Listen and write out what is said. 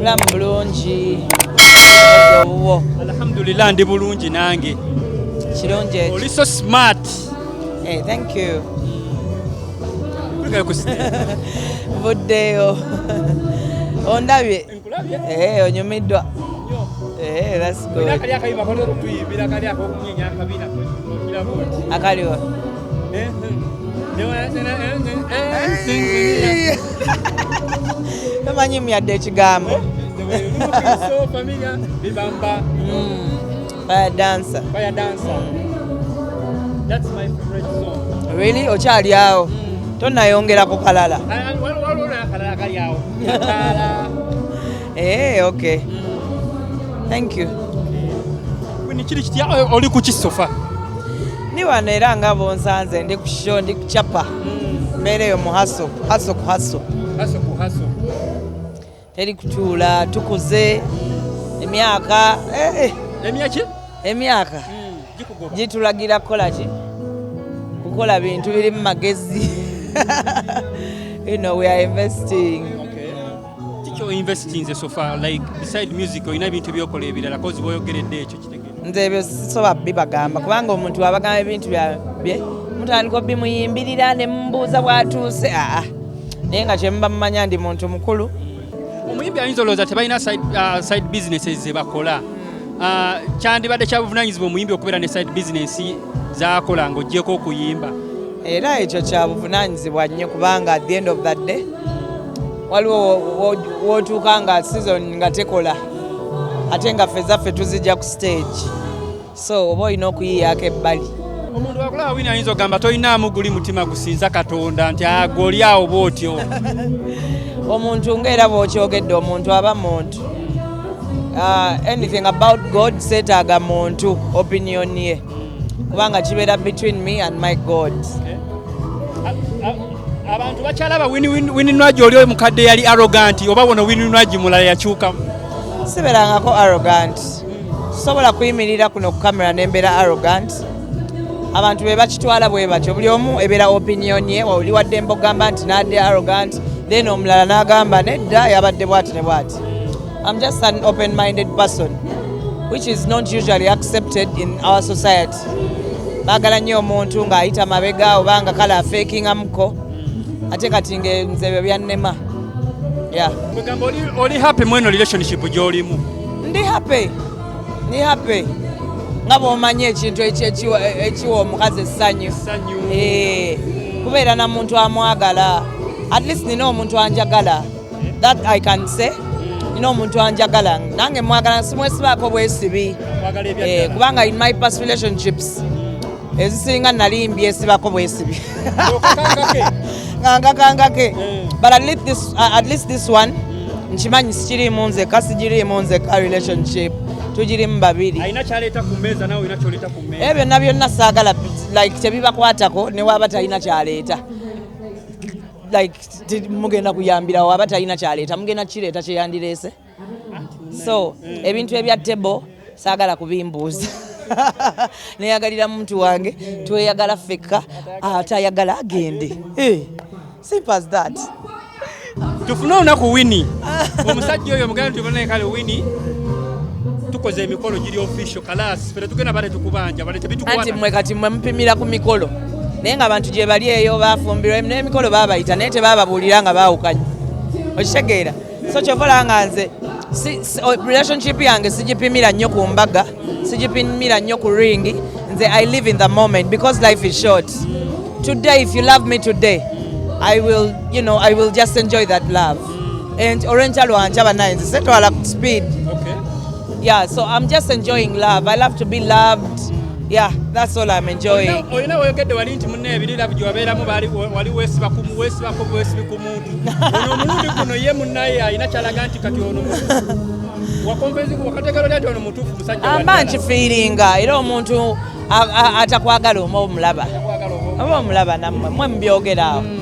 mulamu bulungi owuwo alhamdulillah ndi bulungi nange kirungi ekyo oli so smart hey, eh, thank you buddeyo ondabye hey, eh, onyumiddwa hey, eh, akaliwa tomanyi myadde ekigambo really okyali awo tonayongera ku kalala Hey, eh, okay. Thank you. Wini kiri kitya eh, oli ku kisofa? Ni wano era nga bonsanze ndi ku show ndi kuchapa. Mbere yo mu haso, haso ku haso. Haso ku haso. Teri kutuula tukuze emyaka eh, eh. emyaki emyaka hmm, gitulagira kukola ki kukola bintu biri mu magezi you know we are investing kiki oinvestinze sofa like beside music olina ebintu ebyokola ebirala kozi boyogeredde ekyo kitegere nze ebyo sisobola bibagamba kubanga omuntu abagamba ebintu byabye mutandika obimuyimbirira ne mubuuza bwatuuse aa naye nga kyemuba mumanya ndi muntu mukulu omuyimbi ayinza olowooza tebalina side uh, businesses zebakola uh, kyandibadde kyabuvunanyizibwa omuyimbi okubeera ne side business zakola nga ojjeko okuyimba era ekyo kya buvunaanyizibwa nnyo kubanga at the end of the day waliwo wootuuka nga season nga tekola ate nga ffe zaffe tuzijja ku stage so oba olina okuyiyaako ebbali omuntu akulaba wina ayinza okugamba tolinaamu guli mutima gusinza katonda nti agoli ah, awo bwotyo omuntu ngaera bwokyogedde omuntu aba muntu ah, anything about god setaaga muntu opinion ye kubanga kibeera between me and my god eh? abantu bakyalaba wininwagi oli omukadde yali arroganti oba bona wininwagi mulala yakyukamu siberangako arrogant sobola kuyimirira kuno ku kamera nembeera arrogant abantu be bakitwala bwe batyo buli omu ebeera opinion ye oli waddembe ogamba nti nadde arrogant then omulala n'agamba nedda yabadde bwati ne bwati I'm just an open-minded person which is not usually accepted in our society. Bagala nnyo omuntu ng'ayita mabega oba nga kala afeekingamuko ate kati nga nze byo byannema. Yeah. Mugamba oli, oli happy mweno relationship gy'olimu? Ndi happy. Ndi happy. Nga bw'omanyi ekintu ekiwa omukazi essanyu. Essanyu. Eh. Kubeera na muntu amwagala. At least nina omuntu anjagala. That I can say nina omuntu anjagala nange mwagala simwesibaako bwesibi eh, kubanga in my past relationships ezisinga nali mbyesibako bwesibi ngangakangake eh. but at least this, uh, at least this one nkimanyi sikiriimu nzeka sigiriimu nzeka relationship tugirimu babiri ebyo byonna byonna saagala like tebibakwatako newaba talina kyaleeta like mugenda kuyambirawo aba talina kyaleeta mugenda kireeta kyeyandireese so ebintu ebya table saagala kubimbuuza neyagalira muntu wange tweyagala fekka atayagala agende eh, simple as that tufune olunaku wini omusajja oyo muganda tubonekale wini tukoze emikolo giri official kalaasi anti mwe kati mwe mupimira ku mikolo naye nga abantu gye bali eyo bafumbirwa n'emikolo babayita naye tebababuulira nga baawukanye okitegeera so kyova olanga nze relationship yange sigipimira nnyo ku mbaga sigipimira nnyo ku ringi nze i live in the moment because life is short today if you love me today i will you know i will just enjoy that love and olwenkya lwankya banaye nze setwala speed Yeah, so I'm just enjoying love. I love to be loved. Yeah, that's all I'm enjoying. Oyina oyogedde wali nti munne ebiri love gye wabeeramu wali weesiba ku weesibako bwesibi ku muntu. Ono omulundi guno ye munnaye alina kyalaga nti kati ono wakompenzi ku wakateekero lya nti ono mutuufu musajja wa Amba nkifiiringa era omuntu atakwagala oba omulaba. Oba omulaba nammwe mwe mubyogeraawo. Mm.